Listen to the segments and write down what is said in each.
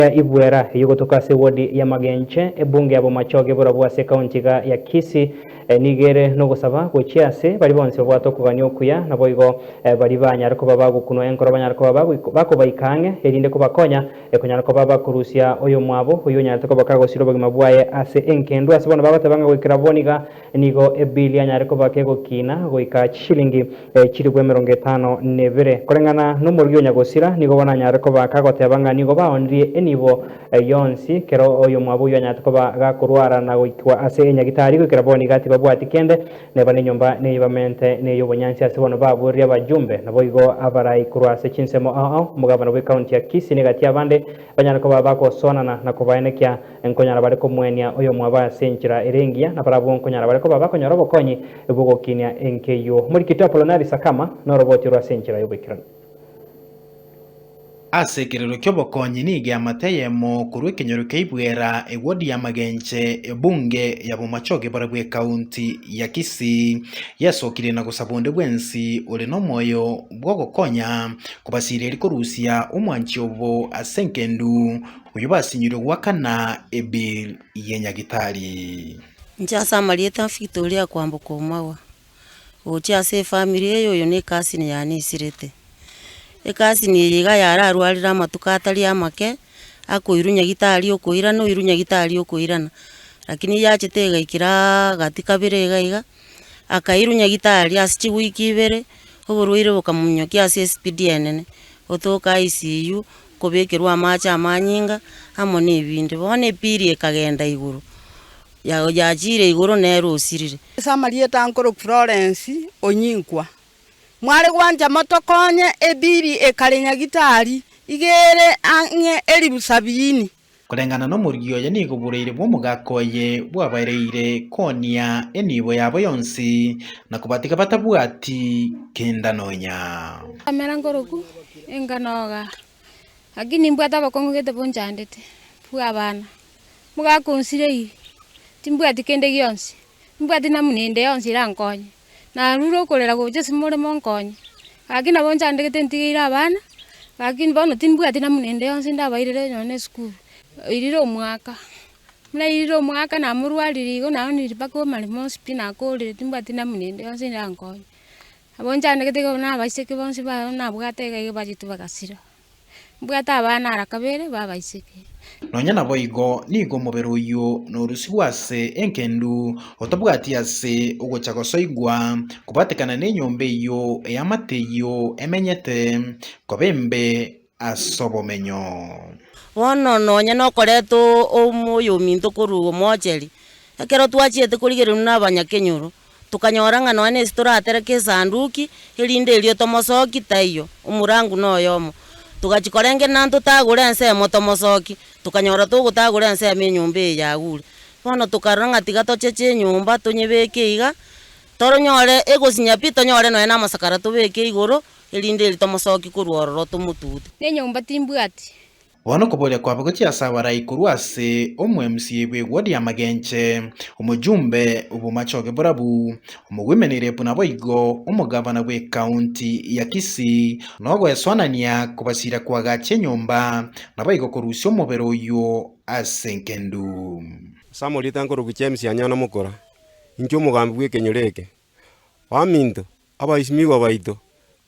Eria Ibwera eyogotoka ase ewodi ya Magenche, ebunge ya Bomachoge borobwo ase ekaunti iga ya Kisii, nigo ere nogosaba gochia ase baria bonsi babwate okogania okuya, naboigo baria banyare koba bagokunwa enkoro banyare koba bakobaika ang'e, erinde kobakonya konyara koba bakorusia oyomwabo oyio onyarete koba kagosira obogima bwaye ase engendu. Ase bono bagoteba ng'a goikera bono iga Nigo ebili anyare koba kegokina goika chishilingi chilifu emerongo etano nebere. Koreng'ana n'omoruya onyagosira, nigo bono anyare koba kagoteba ng'a nigo baonirie enibo yonsi. Kera oyomwabo oyio anyarete koba gakorwara na goikwa ase enyagitari goikera bono iga tibabwati kende. Neba nenyomba neye bamente ney'obonyansi ase bono babuerire abajumbe. Naboigo abarai korwa ase chinsemo ao ao, omogabana bw'ekaunti ya Kisii na egati y'abande banyare koba bagosoanana na kobaenekia Nkonyara bare komoenia oyomwabo ase enchera ere engiya, na barabwo nkonyara bare koba bakonyora obokonyi bw'ogokinia enka eyio. Omorikiti Apolonari Sakama noroboti orwo ase enchera y'oboikeranu. Ase ekerero ki'obokonyi nigo eamate eyemo korwa ekenyoro kia Ibwera, ewodi ya Magenche, ebunge ya Bomachoge barabwo ekaunti ya Kisii, yasokire na gosaba onde bwensi ore nomoyo bw'ogokonya kobasiria eri korusia omwanchi obo ase enkendu. Oyio basinyire ogoakana ebill ye Nyagitari. Inche ase amarieta a Victoria kwamboka omagwa gochia ase efamiri eye oyo ne cousin yane isirete. Ecousin eye iga yararwarire amatuko atari amake akoirwa nyagitari okoirana oirwa nyagitari okoirana lakini yachete igaikera gati kabere iga iga akairwa nyagitari ase chiweek ibere oborwaire bokamominyokia ase espeed enene gotoka ICU kobekerwa amaache amanyinga amo nebindi, bono epiri ekagenda igoro, yachiire igoro nere osirire. Ase amarieta ankoro Florence Onyinkwa, Mware gwancha motokonye, epiri ekare nyagitari iga ere ang'e elifu sabiini. Koreng'ana nomorigia oye nigo boraire bw'omogaka oye bwabareire konia enibo yabo yonsi, na kobatiga batabwati kenda nonya. Nkamera nkoroku enka noga, lakini nimbwate abakong'u gete bonchandete, bwa abana. Omogaka onsirei, timbwati kende gionsi, nimbwati namuna ende yonsi erankonye. Narure okorera gocha ase more monkonye. Gaki nabo nchandegete ntigeire abana, gaki bono timbwati namuna ende yonsi ndabairere nonya na esukuru. Nairire omwaka, buna nairire omwaka namorwarire igo naoonire mpaka omaremo onsi pi nakorire timbwati namuna ende yonsi erankonye. Nabo nchandegete iga nabo na abaiseke bonsi baye nabwate iga iga bachete bagasira. Mbwate abana ara kabere b'abaiseke. Nonya naboigo nigo omobere oyio norusigwe ase engendu, otabwati ase ogocha gosoigwa, kobatekana nenyomba eyio eamate eyio emenyete, koba embe as'obomenyo. Bono nonya nokoreta oyominto korwa omoocheri, ekero twachiete korigereria buna abanyakenyoro, Tokanyora ng'a nonya nesi toratereke esanduki, erinde erio tomosoki taiyo, omorangu noyomo. Togachia korengerera ntotagore ensemo tomosoki, tokanyora togotagora ensemo enyomba eye yagure. Bono tokarora ng'a tiga tocheche enyomba tonyebeke iga, toronyore egosinya pi tonyore nonya namasakara tobeke igoro, erinde erio tomosoki korwa ororo tomotute. Nenyomba timbwati, Bono okoboria kwabo gochia ase abarai korwa ase omwemusi bw'egwo ri'amagenche, omojumbe bw'omachoge borabu, omogwemeneire buna boigo omogavana bw'ekaunti ya Kisii, na ogoesoanania kobasiira koagachia enyomba, naboigo korusia omobere oyio ase engendu. Ase amarieta nkorokwa James Anyona Mukura, inche omogambi bw'ekenyoro eke. Baminto, Abaesimigwa baito,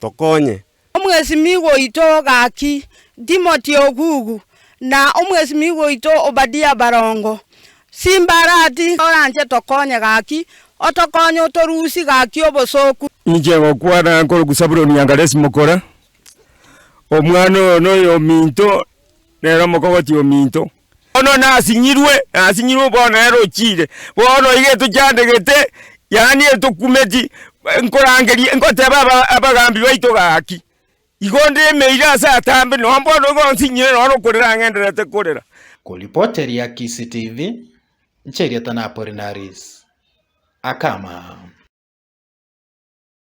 tokonye. Omwesimigwa oito gaki, Timoti ogugu, na omwesimigwa oito Obadia barongo. Simbarati, oranche tokonye gaki, otokonye otorusi gaki obosooku. Inche ngokwana nkoroku Sabuloni Angaresi mokora, omwana oyo noyominto, nere omokogoti ominto. Bono nasinyirwe, nasinyirwe bono nere ochire, bono iga etochandegete, yaani etokumeti, nkorangeria, nkoteba aba- abagambi baito gaki, igo ndemeire ase atambe, noo bono igo onsinyire noo nokorera ang'endererete korera. Koripoteria Kisii TV, Ncherieta na Apollinaris Akama.